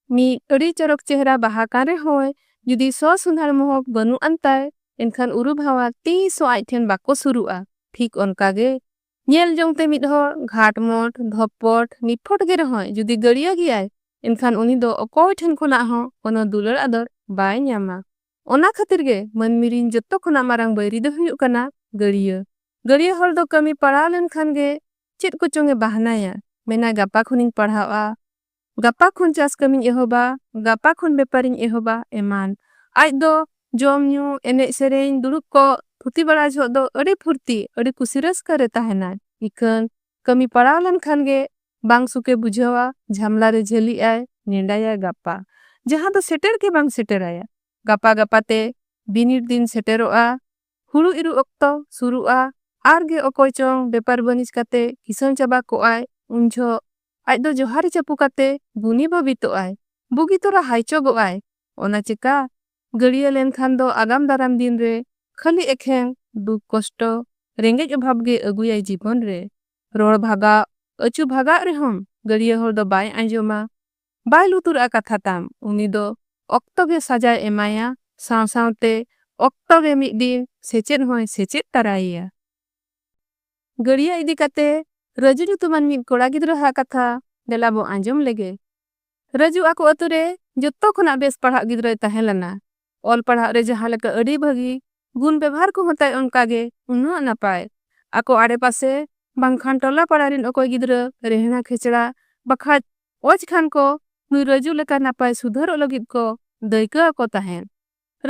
ᱢᱤᱫ ᱟᱹᱰᱤ ᱪᱚᱨᱚᱠ ᱪᱮᱦᱨᱟ ᱵᱟᱦᱟ ᱠᱟᱱ ᱨᱮᱦᱚᱸᱭ ᱡᱩᱫᱤ ᱥᱚ ᱥᱚᱸᱫᱷᱟᱲ ᱢᱚᱦᱚᱠ ᱵᱟᱹᱱᱩᱜ ᱟᱱ ᱛᱟᱭ ᱮᱱᱠᱷᱟᱱ ᱩᱨᱩ ᱵᱷᱟᱶᱟ ᱛᱤᱥ ᱦᱚᱸ ᱟᱡ ᱴᱷᱮᱱ ᱵᱟᱠᱚ ᱥᱩᱨᱩᱜᱼᱟ᱾ ᱴᱷᱤᱠ ᱚᱱᱠᱟ ᱜᱮ ᱧᱮᱞ ᱡᱚᱝ ᱛᱮ ᱢᱤᱫ ᱦᱚᱲ ᱜᱷᱟᱴᱢᱚᱴ, ᱫᱷᱚᱯᱯᱚᱴ, ᱱᱤᱯᱷᱚᱴ ᱜᱮ ᱨᱮᱦᱚᱸᱭ ᱡᱩᱫᱤ ᱜᱟᱹᱲᱭᱟᱹ ᱜᱮᱭᱟᱭ ᱮᱱᱠᱷᱟᱱ ᱩᱱᱤ ᱫᱚ ᱚᱠᱚᱭ ᱴᱷᱮᱱ ᱠᱷᱚᱱᱟᱜ ᱦᱚᱸ ᱠᱚᱱᱚ ᱫᱩᱞᱟᱹᱲ ᱟᱫᱚᱨ ᱵᱟᱭ ᱧᱟᱢᱟ᱾ ᱚᱱᱟ ᱠᱷᱟᱹᱛᱤᱨ ᱜᱮ ᱢᱟᱹᱱᱢᱤ ᱨᱤᱱ ᱡᱚᱛᱚ ᱠᱷᱚᱱᱟᱜ ᱢᱟᱨᱟᱝ ᱵᱟᱹᱭᱨᱤ ᱫᱚᱭ ᱦᱩᱭᱩᱜ ᱠᱟᱱᱟ ᱜᱟᱹᱲᱭᱟᱹ᱾ ᱜᱟᱹᱲᱭᱟᱹ ᱦᱚᱲ ᱫᱚ ᱠᱟᱹᱢᱤ ᱯᱟᱲᱟᱣ ᱞᱮᱱ ᱠᱷᱟᱱ ᱜᱮ ᱪᱮᱫ ᱠᱚᱪᱚᱝ ᱮ ᱵᱟᱦᱱᱟᱭᱟ᱾ ᱢᱮᱱᱟᱭ ᱜᱟᱯᱟ ᱠᱷᱚᱱᱤᱧ ᱯᱟᱲᱦᱟᱣᱜᱼᱟ, ᱜᱟᱯᱟ ᱠᱷᱚᱱ ᱪᱟᱥ ᱠᱟᱹᱢᱤᱧ ᱮᱦᱚᱵᱟ ᱜᱟᱯᱟ ᱠᱷᱚᱱ ᱵᱮᱯᱟᱨᱤᱧ ᱮᱦᱚᱵᱟ ᱮᱢᱟᱱ ᱟᱡ ᱫᱚ ᱡᱚᱢ ᱧᱩ ᱮᱱᱮᱡ ᱥᱮᱨᱮᱧ ᱫᱩᱲᱩᱵ ᱠᱚ ᱛᱷᱩᱛᱤ ᱵᱟᱲᱟ ᱡᱚᱦᱚᱜ ᱫᱚ ᱟᱹᱰᱤ ᱯᱷᱩᱨᱛᱤ ᱟᱹᱰᱤ ᱠᱩᱥᱤ ᱨᱟᱹᱥᱠᱟᱹ ᱨᱮ ᱛᱟᱦᱮᱱᱟᱭ ᱤᱠᱷᱟᱹᱱ ᱠᱟᱹᱢᱤ ᱯᱟᱲᱟᱣ ᱞᱮᱱ ᱠᱷᱟᱱ ᱜᱮ ᱵᱟᱝ ᱥᱩᱠᱮ ᱵᱩᱡᱷᱟᱹᱣᱟ ᱡᱷᱟᱢᱞᱟ ᱨᱮ ᱡᱷᱟᱹᱞᱤᱜ ᱟᱭ ᱱᱮᱰᱟᱭᱟᱭ ᱜᱟᱯᱟ ᱡᱟᱦᱟᱸ ᱫᱚ ᱥᱮᱴᱮᱨ ᱜᱮ ᱵᱟᱝ ᱥᱮᱴᱮᱨᱟᱭᱟ ᱜᱟᱯᱟ ᱜᱟᱯᱟ ᱛᱮ ᱵᱤᱱᱤᱰ ᱫᱤᱱ ᱥᱮᱴᱮᱨᱚᱜᱼᱟ ᱦᱩᱲᱩ ᱤᱨᱩᱜ ᱚᱠᱛᱚ ᱥᱩᱨᱩᱜᱼᱟ ᱟᱨ ᱜᱮ ᱚᱠᱚᱭ ᱪᱚᱝ ᱵᱮᱯᱟᱨ ᱵᱟᱹᱱᱤᱡᱽ ᱠᱟᱛᱮ ᱠᱤᱥᱟᱹᱬ ᱪᱟᱵᱟ ᱠᱚᱜ ᱟᱭ ᱩᱱ ᱡᱷᱚᱜ ᱟᱡ ᱫᱚ ᱡᱚᱦᱟᱨᱮ ᱪᱟᱹᱯᱩ ᱠᱟᱛᱮ ᱜᱩᱱᱤ ᱵᱟᱹᱵᱤᱛᱚᱜ ᱟᱭ ᱵᱩᱜᱤ ᱛᱚᱨᱟ ᱦᱟᱭᱪᱚᱜᱚᱜ ᱟᱭ ᱚᱱᱟ ᱪᱮᱠᱟ ᱜᱟᱹᱲᱭᱟᱹ ᱞᱮᱱ ᱠᱷᱟᱱ ᱫᱚ ᱟᱜᱟᱢ ᱫᱟᱨᱟᱢ ᱫᱤᱱ ᱨᱮ ᱠᱷᱟᱹᱞᱤ ᱮᱠᱷᱮᱱ ᱫᱩᱠ ᱠᱚᱥᱴᱚ ᱨᱮᱸᱜᱮᱡ ᱚᱵᱷᱟᱵᱽ ᱜᱮ ᱟᱹᱜᱩᱭᱟᱭ ᱡᱤᱵᱚᱱ ᱨᱮ ᱨᱚᱲ ᱵᱷᱟᱜᱟᱣ ᱟᱹᱪᱩ ᱵᱷᱟᱜᱟᱜ ᱨᱮᱦᱚᱸᱢ ᱜᱟᱹᱲᱭᱟᱹ ᱦᱚᱲ ᱫᱚ ᱵᱟᱭ ᱟᱸᱡᱚᱢᱟ ᱵᱟᱭ ᱞᱩᱛᱩᱨᱟᱜᱼᱟ ᱠᱟᱛᱷᱟ ᱛᱟᱢ᱾ ᱩᱱᱤ ᱫᱚ ᱚᱠᱛᱚ ᱜᱮ ᱥᱟᱡᱟᱭ ᱮᱢᱟᱭᱟ ᱥᱟᱶ ᱥᱟᱶᱛᱮ ᱚᱠᱛᱚ ᱜᱮ ᱢᱤᱫ ᱫᱤᱱ ᱥᱮᱪᱮᱫ ᱦᱚᱸᱭ ᱥᱮᱪᱮᱫ ᱛᱟᱨᱟᱭᱮᱭᱟ᱾ ᱜᱟᱹᱲᱭᱟᱹ ᱤᱫᱤ ᱠᱟᱛᱮ ᱨᱟᱹᱡᱩ ᱧᱩᱛᱩᱢᱟᱱ ᱢᱤᱫ ᱠᱚᱲᱟ ᱜᱤᱫᱽᱨᱟᱹ ᱦᱟᱜ ᱠᱟᱛᱷᱟ ᱫᱮᱞᱟ ᱵᱚ ᱟᱸᱡᱚᱢ ᱞᱮᱜᱮ᱾ ᱨᱟᱹᱡᱩ ᱟᱠᱚ ᱟᱹᱛᱩ ᱨᱮ ᱡᱚᱛᱚ ᱠᱷᱚᱱᱟᱜ ᱵᱮᱥ ᱯᱟᱲᱦᱟᱜ ᱜᱤᱫᱽᱨᱟᱹᱭ ᱛᱟᱦᱮᱸ ᱞᱮᱱᱟ᱾ ᱚᱞ ᱯᱟᱲᱦᱟᱜ ᱨᱮ ᱡᱟᱦᱟᱸ ᱞᱮᱠᱟ ᱟᱹᱰᱤ ᱵᱷᱟᱹᱜᱤ ᱜᱩᱱ ᱵᱮᱵᱷᱟᱨ ᱠᱚᱦᱚᱸ ᱛᱟᱭ ᱚᱱᱠᱟ ᱜᱮ ᱩᱱᱟᱹᱜ ᱱᱟᱯᱟᱭ᱾ ᱟᱠᱚ ᱟᱲᱮ ᱯᱟᱥᱮ ᱵᱟᱝᱠᱷᱟᱱ ᱴᱚᱞᱟ ᱯᱟᱲᱟ ᱨᱤᱱ ᱚᱠᱚᱭ ᱜᱤᱫᱽᱨᱟᱹ ᱨᱮᱦᱲᱟ ᱠᱷᱮᱪᱲᱟ ᱵᱟᱠᱷᱟᱡ ᱚᱡᱽ ᱠᱷᱟᱱ ᱠᱚ ᱱᱩᱭ ᱨᱟᱹᱡᱩ ᱞᱮᱠᱟ ᱱᱟᱯᱟᱭ ᱥᱩᱫᱷᱟᱹᱨᱚᱜ ᱞᱟᱹᱜᱤᱫ ᱠᱚ ᱫᱟᱹᱭᱠᱟᱹ ᱟᱠᱚ ᱛᱟᱦᱮᱸᱫ᱾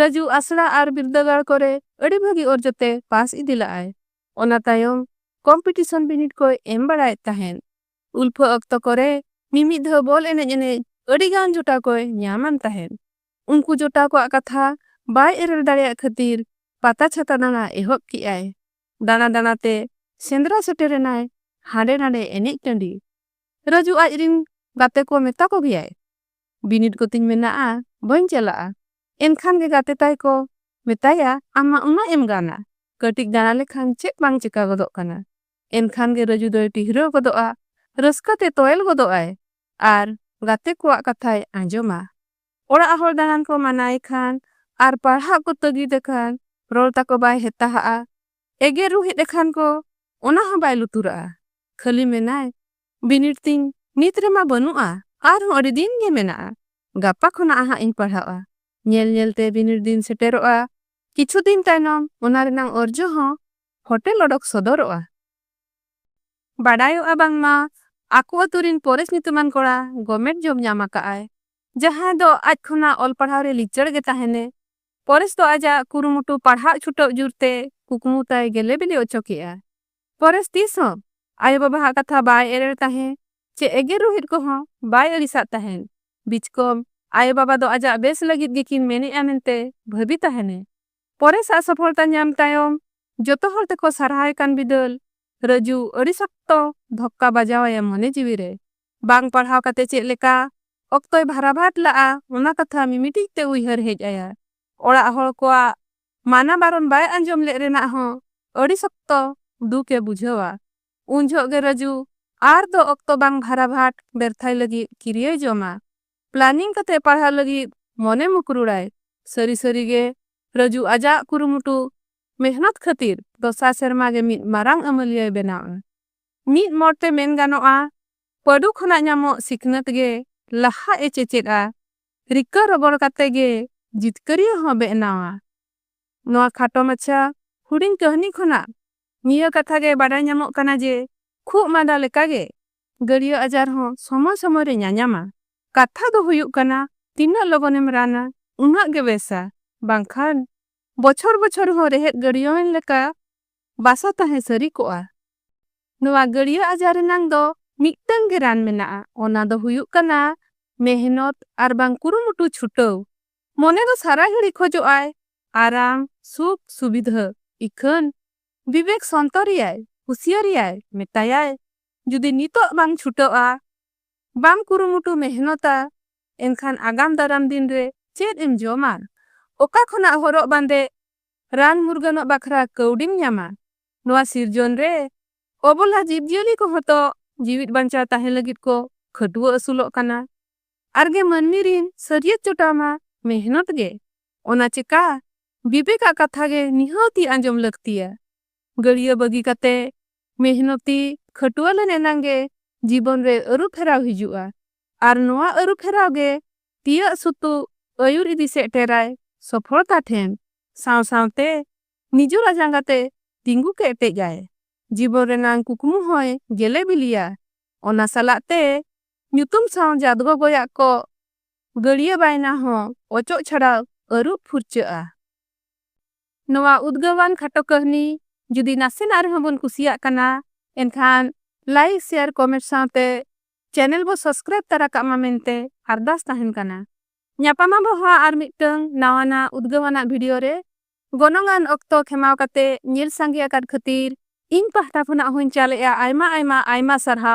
ᱨᱟᱹᱡᱩ ᱟᱥᱲᱟ ᱟᱨ ᱵᱤᱨᱫᱟᱹᱜᱟᱲ ᱠᱚᱨᱮ ᱟᱹᱰᱤ ᱵᱷᱟᱹᱜᱤ ᱚᱨᱡᱚ ᱛᱮ ᱯᱟᱥ ᱤᱫᱤ ᱞᱟᱜᱼᱟᱭ᱾ ᱚᱱᱟ ᱛᱟᱭᱚᱢ ᱠᱚᱢᱯᱤᱴᱤᱥᱚᱱ ᱵᱤᱱᱤᱰ ᱠᱚᱭ ᱮᱢ ᱵᱟᱲᱟᱭᱮᱫ ᱛᱟᱦᱮᱸᱫ᱾ ᱩᱞᱯᱷᱟᱹ ᱚᱠᱛᱚ ᱠᱚᱨᱮ ᱢᱤᱢᱤᱫ ᱫᱷᱟᱣ ᱵᱚᱞ ᱮᱱᱮᱡ ᱮᱱᱮᱡ ᱟᱹᱰᱤ ᱜᱟᱱ ᱡᱚᱴᱟᱣ ᱠᱚᱭ ᱧᱟᱢ ᱟᱱ ᱛᱟᱦᱮᱸᱫ᱾ ᱩᱱᱠᱩ ᱡᱚᱴᱟᱣ ᱠᱚᱣᱟᱜ ᱠᱟᱛᱷᱟ ᱵᱟᱭ ᱮᱨᱮᱲ ᱫᱟᱲᱮᱭᱟᱜ ᱠᱷᱟᱹᱛᱤᱨ ᱯᱟᱛᱟ ᱪᱷᱟᱛᱟ ᱫᱟᱬᱟ ᱮᱦᱚᱵ ᱠᱮᱜ ᱟᱭ᱾ ᱫᱟᱬᱟ ᱫᱟᱬᱟ ᱛᱮ ᱥᱮᱸᱫᱽᱨᱟ ᱥᱮᱴᱮᱨ ᱮᱱᱟᱭ ᱦᱟᱸᱰᱮ ᱱᱟᱸᱰᱮ ᱮᱱᱮᱡ ᱴᱟᱺᱰᱤ᱾ ᱨᱟᱹᱡᱩ ᱟᱡ ᱨᱤᱱ ᱜᱟᱛᱮ ᱠᱚ ᱢᱮᱛᱟ ᱠᱚ ᱜᱮᱭᱟᱭ ᱵᱤᱱᱤᱰ ᱠᱚᱛᱤᱧ ᱢᱮᱱᱟᱜᱼᱟ ᱵᱟᱹᱧ ᱪᱟᱞᱟᱜᱼᱟ᱾ ᱮᱱᱠᱷᱟᱱ ᱜᱮ ᱜᱟᱛᱮ ᱛᱟᱭ ᱠᱚ ᱢᱮᱛᱟᱭᱟ ᱟᱢ ᱢᱟ ᱩᱱᱟᱹᱜ ᱮᱢ ᱜᱟᱱᱟ ᱠᱟᱹᱴᱤᱡ ᱫᱟᱬᱟ ᱞᱮᱠᱷᱟᱱ ᱪᱮᱫ ᱵᱟᱝ ᱪᱮᱠᱟ ᱜᱚᱫᱚᱜ ᱠᱟᱱᱟ᱾ ᱮᱱᱠᱷᱟᱱ ᱜᱮ ᱨᱟᱹᱡᱩ ᱫᱚᱭ ᱴᱤᱦᱨᱟᱹ ᱜᱚᱫᱚᱜᱼᱟ ᱨᱟᱹᱥᱠᱟᱹ ᱛᱮ ᱛᱚᱭᱮᱞ ᱜᱚᱫᱚᱜ ᱟᱭ ᱟᱨ ᱜᱟᱛᱮ ᱠᱚᱣᱟᱜ ᱠᱟᱛᱷᱟᱭ ᱟᱸᱡᱚᱢᱟ᱾ ᱚᱲᱟᱜ ᱦᱚᱲ ᱫᱟᱬᱟᱱ ᱠᱚ ᱢᱟᱱᱟᱭᱮ ᱠᱷᱟᱱ ᱟᱨ ᱯᱟᱲᱦᱟᱜ ᱠᱚ ᱛᱟᱹᱜᱤᱫ ᱮ ᱠᱷᱟᱱ ᱨᱚᱲ ᱛᱟᱠᱚ ᱵᱟᱭ ᱦᱮᱛᱟ ᱦᱟᱜᱼᱟ᱾ ᱮᱜᱮᱨ ᱨᱩᱦᱮᱫ ᱮ ᱠᱷᱟᱱ ᱠᱚ ᱚᱱᱟ ᱦᱚᱸ ᱵᱟᱭ ᱞᱩᱛᱩᱨᱟᱜᱼᱟ᱾ ᱠᱷᱟᱹᱞᱤ ᱢᱮᱱᱟᱭ, ᱵᱤᱱᱤᱰ ᱛᱤᱧ ᱱᱤᱛ ᱨᱮᱢᱟ ᱵᱟᱹᱱᱩᱜᱼᱟ, ᱟᱨ ᱦᱚᱸ ᱟᱹᱰᱤ ᱫᱤᱱ ᱜᱮ ᱢᱮᱱᱟᱜᱼᱟ᱾ ᱜᱟᱯᱟ ᱠᱷᱚᱱᱟᱜ ᱦᱟᱸᱜ ᱤᱧ ᱯᱟᱲᱦᱟᱣᱜᱼᱟ᱾ ᱧᱮᱞ ᱧᱮᱞ ᱛᱮ ᱵᱤᱱᱤᱰ ᱫᱤᱱ ᱥᱮᱴᱮᱨᱚᱜᱼᱟ᱾ ᱠᱤᱪᱷᱩ ᱫᱤᱱ ᱛᱟᱭᱱᱚᱢ ᱚᱱᱟ ᱨᱮᱱᱟᱜ ᱚᱨᱡᱚ ᱦᱚᱸ ᱯᱷᱚᱴᱮᱞ ᱚᱰᱚᱠ ᱥᱚᱫᱚᱨᱚᱜᱼᱟ᱾ ᱵᱟᱰᱟᱭᱚᱜᱼᱟ ᱵᱟᱝᱢᱟ ᱟᱠᱚ ᱟᱹᱛᱩ ᱨᱤᱱ ᱯᱚᱨᱮᱥ ᱧᱩᱛᱩᱢᱟᱱ ᱠᱚᱲᱟ ᱜᱚᱢᱮᱴ ᱡᱚᱵᱽ ᱧᱟᱢ ᱟᱠᱟᱫ ᱟᱭ ᱡᱟᱦᱟᱸᱭ ᱫᱚ ᱟᱡ ᱠᱷᱚᱱᱟᱜ ᱚᱞ ᱯᱟᱲᱦᱟᱣ ᱨᱮ ᱞᱤᱪᱟᱹᱲ ᱜᱮ ᱛᱟᱦᱮᱸᱱᱮ᱾ ᱯᱚᱨᱮᱥ ᱫᱚ ᱟᱡᱟᱜ ᱠᱩᱨᱩᱢᱩᱴᱩ ᱯᱟᱲᱦᱟᱜ ᱪᱷᱩᱴᱟᱹᱣ ᱡᱩᱨ ᱛᱮ ᱠᱩᱠᱢᱩ ᱛᱟᱭ ᱜᱮᱞᱮ ᱵᱤᱞᱤ ᱚᱪᱚ ᱠᱮᱫᱼᱟ᱾ ᱯᱚᱨᱮᱥ ᱛᱤᱥ ᱦᱚᱸ ᱟᱭᱳ ᱵᱟᱵᱟ ᱦᱟᱜ ᱠᱟᱛᱷᱟ ᱵᱟᱭ ᱮᱨᱮᱲ ᱛᱟᱦᱮᱸ ᱪᱮ ᱮᱜᱮᱨ ᱨᱩᱦᱮᱫ ᱠᱚᱦᱚᱸ ᱵᱟᱭ ᱟᱹᱲᱤᱥᱟᱫ ᱛᱟᱦᱮᱸᱱ᱾ ᱵᱤᱪᱠᱚᱢ ᱟᱭᱳ ᱵᱟᱵᱟ ᱫᱚ ᱟᱡᱟᱜ ᱵᱮᱥ ᱞᱟᱹᱜᱤᱫ ᱜᱮᱠᱤᱱ ᱢᱮᱱᱮᱫᱼᱟ ᱢᱮᱱᱛᱮ ᱵᱷᱟᱹᱵᱤ ᱛᱟᱦᱮᱸᱱᱮ᱾ ᱯᱚᱨᱮᱥ ᱟᱜ ᱥᱚᱯᱷᱚᱞᱛᱟ ᱧᱟᱢ ᱛᱟᱭᱚᱢ ᱡᱚᱛᱚ ᱦᱚᱲ ᱛᱮᱠᱚ ᱥᱟᱨᱦᱟᱣᱮ ᱠᱟᱱ ᱵᱤᱫᱟᱹᱞ ᱨᱟᱹᱡᱩ ᱟᱹᱰᱤ ᱥᱚᱠᱛᱚ ᱫᱷᱚᱠᱠᱟ ᱵᱟᱡᱟᱣ ᱟᱭᱟ ᱢᱚᱱᱮ ᱡᱤᱣᱤ ᱨᱮ᱾ ᱵᱟᱝ ᱯᱟᱲᱦᱟᱣ ᱠᱟᱛᱮ ᱪᱮᱫ ᱞᱮᱠᱟ ᱚᱠᱛᱚᱭ ᱵᱷᱟᱨᱟᱵᱷᱟᱴ ᱞᱟᱜᱼᱟ ᱚᱱᱟ ᱠᱟᱛᱷᱟ ᱢᱤᱢᱤᱴᱤᱡ ᱛᱮ ᱩᱭᱦᱟᱹᱨ ᱦᱮᱡ ᱟᱭᱟ᱾ ᱚᱲᱟᱜ ᱦᱚᱲ ᱠᱚᱣᱟᱜ ᱢᱟᱱᱟ ᱵᱟᱨᱚᱱ ᱵᱟᱭ ᱟᱸᱡᱚᱢ ᱞᱮᱫ ᱨᱮᱱᱟᱜ ᱦᱚᱸ ᱟᱹᱰᱤ ᱥᱚᱠᱛᱚ ᱫᱩᱠ ᱮ ᱵᱩᱡᱷᱟᱹᱣᱟ᱾ ᱩᱱ ᱡᱷᱚᱜ ᱜᱮ ᱨᱟᱹᱡᱩ ᱟᱨ ᱫᱚ ᱚᱠᱛᱚ ᱵᱟᱝ ᱵᱷᱟᱨᱟᱵᱷᱟᱴ ᱵᱮᱨᱛᱷᱟᱭ ᱞᱟᱹᱜᱤᱫ ᱠᱤᱨᱤᱭᱟᱹᱭ ᱡᱚᱢᱟ᱾ ᱯᱞᱟᱱᱤᱝ ᱠᱟᱛᱮ ᱯᱟᱲᱦᱟᱜ ᱞᱟᱹᱜᱤᱫ ᱢᱚᱱᱮ ᱢᱩᱠᱨᱩᱲᱟᱭ᱾ ᱥᱟᱹᱨᱤ ᱥᱟᱹᱨᱤ ᱜᱮ ᱨᱟᱡᱩ ᱟᱡᱟᱜ ᱠᱩᱨᱩᱢᱩᱴᱩ ᱢᱮᱦᱱᱚᱛ ᱠᱷᱟᱹᱛᱤᱨ ᱫᱚᱥᱟᱨ ᱥᱮᱨᱢᱟ ᱜᱮ ᱢᱤᱫ ᱢᱟᱨᱟᱝ ᱟᱹᱢᱟᱹᱞᱤᱭᱟᱹᱭ ᱵᱮᱱᱟᱣᱼᱟ᱾ ᱢᱤᱫ ᱢᱚᱲ ᱛᱮ ᱢᱮᱱ ᱜᱟᱱᱚᱜᱼᱟ ᱯᱟᱹᱰᱩ ᱠᱷᱚᱱᱟᱜ ᱧᱟᱢᱚᱜ ᱥᱤᱠᱷᱱᱟᱹᱛ ᱜᱮ ᱞᱟᱦᱟᱜ ᱮ ᱪᱮᱪᱮᱫᱼᱟ, ᱨᱤᱠᱟᱹ ᱨᱚᱜᱚᱲ ᱠᱟᱛᱮ ᱜᱮ ᱡᱤᱛᱠᱟᱹᱨᱤᱭᱟᱹ ᱦᱚᱸ ᱵᱮᱜᱱᱟᱣᱼᱟ᱾ ᱱᱚᱣᱟ ᱠᱷᱟᱴᱚ ᱢᱟᱪᱷᱟ ᱦᱩᱰᱤᱧ ᱠᱟᱹᱦᱱᱤ ᱠᱷᱚᱱᱟᱜ ᱱᱤᱭᱟᱹ ᱠᱟᱛᱷᱟ ᱜᱮ ᱵᱟᱰᱟᱭ ᱧᱟᱢᱚᱜ ᱠᱟᱱᱟ ᱡᱮ ᱠᱷᱩᱜ ᱢᱟᱸᱫᱟ ᱞᱮᱠᱟ ᱜᱮ ᱜᱟᱹᱲᱭᱟᱹ ᱟᱡᱟᱨ ᱦᱚᱸ ᱥᱚᱢᱚᱭ ᱥᱚᱢᱚᱭ ᱨᱮ ᱧᱟᱧᱟᱢᱟ᱾ ᱠᱟᱛᱷᱟ ᱫᱚ ᱦᱩᱭᱩᱜ ᱠᱟᱱᱟ ᱛᱤᱱᱟᱹᱜ ᱞᱚᱜᱚᱱ ᱮᱢ ᱨᱟᱱᱟ ᱩᱱᱟᱹᱜ ᱜᱮ ᱵᱮᱥᱟ ᱵᱟᱝᱠᱷᱟᱱ ᱵᱚᱪᱷᱚᱨ ᱵᱚᱪᱷᱚᱨ ᱦᱚᱸ ᱨᱮᱦᱮᱫ ᱜᱟᱹᱲᱭᱟᱹᱣᱮᱱ ᱞᱮᱠᱟ ᱵᱟᱥᱟ ᱛᱟᱦᱮᱸ ᱥᱟᱹᱨᱤ ᱠᱚᱜᱼᱟ᱾ ᱱᱚᱣᱟ ᱜᱟᱹᱲᱭᱟᱹ ᱟᱡᱟᱨ ᱨᱮᱱᱟᱝ ᱫᱚ ᱢᱤᱫᱴᱟᱹᱝ ᱜᱮ ᱨᱟᱱ ᱢᱮᱱᱟᱜᱼᱟ ᱚᱱᱟ ᱫᱚ ᱦᱩᱭᱩᱜ ᱠᱟᱱᱟ ᱢᱮᱦᱱᱚᱛ ᱟᱨ ᱵᱟᱝ ᱠᱩᱨᱩᱢᱩᱴᱩ ᱪᱷᱩᱴᱟᱹᱣ᱾ ᱢᱚᱱᱮ ᱫᱚ ᱥᱟᱨᱟ ᱜᱷᱟᱹᱲᱤ ᱠᱷᱚᱡᱚᱜ ᱟᱭ ᱟᱨᱟᱢ, ᱥᱩᱠ, ᱥᱩᱵᱤᱫᱷᱟᱹ᱾ ᱤᱠᱷᱟᱹᱱ ᱵᱤᱵᱮᱠ ᱥᱚᱱᱛᱚᱨᱮᱭᱟᱭ, ᱦᱩᱥᱤᱭᱟᱹᱨᱮᱭᱟᱭ, ᱢᱮᱛᱟᱭᱟᱭ ᱡᱩᱫᱤ ᱱᱤᱛᱚᱜ ᱵᱟᱝ ᱪᱷᱩᱴᱟᱹᱜᱼᱟ, ᱵᱟᱢ ᱠᱩᱨᱩᱢᱩᱴᱩ ᱢᱮᱦᱱᱚᱛᱟ, ᱮᱱᱠᱷᱟᱱ ᱟᱜᱟᱢ ᱫᱟᱨᱟᱢ ᱫᱤᱱ ᱨᱮ ᱪᱮᱫ ᱮᱢ ᱡᱚᱢᱟ? ᱚᱠᱟ ᱠᱷᱚᱱᱟᱜ ᱦᱚᱨᱚᱜ ᱵᱟᱸᱫᱮ, ᱨᱟᱱ ᱢᱩᱨᱜᱟᱹᱱᱚᱜ ᱵᱟᱠᱷᱨᱟ ᱠᱟᱹᱣᱰᱤᱢ ᱧᱟᱢᱟ? ᱱᱚᱣᱟ ᱥᱤᱨᱡᱚᱱ ᱨᱮ ᱚᱵᱚᱞᱟ ᱡᱤᱵᱽ ᱡᱤᱭᱟᱹᱞᱤ ᱠᱚᱦᱚᱸ ᱛᱚ ᱡᱤᱣᱤᱫ ᱵᱟᱧᱪᱟᱣ ᱛᱟᱦᱮᱸ ᱞᱟᱹᱜᱤᱫ ᱠᱚ ᱠᱷᱟᱹᱴᱣᱟᱹ ᱟᱹᱥᱩᱞᱚᱜ ᱠᱟᱱᱟ᱾ ᱟᱨ ᱜᱮ ᱢᱟᱹᱱᱢᱤ ᱨᱤᱱ ᱥᱟᱹᱨᱭᱟᱹᱛ ᱡᱚᱴᱟᱣ ᱢᱟ ᱢᱮᱦᱱᱚᱛ ᱜᱮ᱾ ᱚᱱᱟ ᱪᱮᱠᱟ ᱵᱤᱵᱮᱠ ᱟᱜ ᱠᱟᱛᱷᱟ ᱜᱮ ᱱᱤᱦᱟᱹᱛᱤ ᱟᱸᱡᱚᱢ ᱞᱟᱹᱠᱛᱤᱭᱟ᱾ ᱜᱟᱹᱲᱭᱟᱹ ᱵᱟᱹᱜᱤ ᱠᱟᱛᱮ ᱢᱮᱦᱱᱚᱛᱤ ᱠᱷᱟᱹᱴᱩᱣᱟᱹ ᱞᱮᱱ ᱮᱱᱟᱝ ᱜᱮ ᱡᱤᱵᱚᱱ ᱨᱮ ᱟᱹᱨᱩ ᱯᱷᱮᱨᱟᱣ ᱦᱤᱡᱩᱜᱼᱟ ᱟᱨ ᱱᱚᱶᱟ ᱟᱹᱨᱩ ᱯᱷᱮᱨᱟᱣ ᱜᱮ ᱛᱤᱭᱟᱹᱜ ᱥᱩᱛᱩᱜ ᱟᱹᱭᱩᱨ ᱤᱫᱤ ᱥᱮᱴᱮᱨᱟᱭ ᱥᱚᱯᱷᱚᱞᱛᱟ ᱴᱷᱮᱱ᱾ ᱥᱟᱶ ᱥᱟᱶᱛᱮ ᱱᱤᱡᱚᱨᱟᱜ ᱡᱟᱸᱜᱟ ᱛᱮ ᱛᱤᱸᱜᱩ ᱠᱮᱴᱮᱡ ᱟᱭ᱾ ᱡᱤᱵᱚᱱ ᱨᱮᱱᱟᱝ ᱠᱩᱠᱢᱩ ᱦᱚᱸᱭ ᱜᱮᱞᱮ ᱵᱤᱞᱤᱭᱟ᱾ ᱚᱱᱟ ᱥᱟᱞᱟᱜ ᱛᱮ ᱧᱩᱛᱩᱢ ᱥᱟᱶ ᱡᱟᱹᱛ ᱜᱚᱜᱚᱭᱟᱜ ᱠᱚᱜ ᱜᱟᱹᱲᱭᱟᱹ ᱵᱟᱭᱱᱟ ᱦᱚᱸ ᱚᱪᱚᱜ ᱪᱷᱟᱲᱟᱣ ᱟᱹᱨᱩᱵ ᱯᱷᱩᱨᱪᱟᱹᱜᱼᱟ᱾ ᱱᱚᱣᱟ ᱩᱫᱽᱜᱟᱹᱣᱟᱱ ᱠᱷᱟᱴᱚ ᱠᱟᱹᱦᱱᱤ ᱡᱩᱫᱤ ᱱᱟᱥᱮᱱᱟᱜ ᱨᱮᱦᱚᱸ ᱵᱚᱱ ᱠᱩᱥᱤᱭᱟᱜ ᱠᱟᱱᱟ ᱮᱱᱠᱷᱟᱱ ᱞᱟᱭᱤᱠ ᱥᱮᱭᱟᱨ ᱠᱚᱢᱮᱸᱴ ᱥᱟᱶᱛᱮ ᱪᱮᱱᱮᱞ ᱵᱚ ᱥᱚᱵᱽᱥᱠᱨᱟᱭᱤᱵᱽ ᱛᱟᱨᱟ ᱠᱟᱜ ᱢᱟ ᱢᱮᱱᱛᱮ ᱟᱨᱫᱟᱥ ᱛᱟᱦᱮᱸᱱ ᱠᱟᱱᱟ᱾ ᱧᱟᱯᱟᱢ ᱟᱵᱚ ᱦᱟᱸᱜ ᱟᱨ ᱢᱤᱫᱴᱟᱹᱝ ᱱᱟᱣᱟᱱᱟᱜ ᱩᱫᱽᱜᱟᱹᱣᱟᱱᱟᱜ ᱵᱷᱤᱰᱤᱭᱳ ᱨᱮ᱾ ᱜᱚᱱᱚᱝ ᱟᱱ ᱚᱠᱛᱚ ᱠᱷᱮᱢᱟᱣ ᱠᱟᱛᱮ ᱧᱮᱞ ᱥᱟᱸᱜᱮ ᱟᱠᱟᱫ ᱠᱷᱟᱹᱛᱤᱨ ᱤᱧ ᱯᱟᱦᱴᱟ ᱠᱷᱚᱱᱟᱜ ᱦᱚᱸᱧ ᱪᱟᱞ ᱮᱫᱼᱟ ᱟᱭᱢᱟ ᱟᱭᱢᱟ ᱟᱭᱢᱟ ᱥᱟᱨᱦᱟᱣ᱾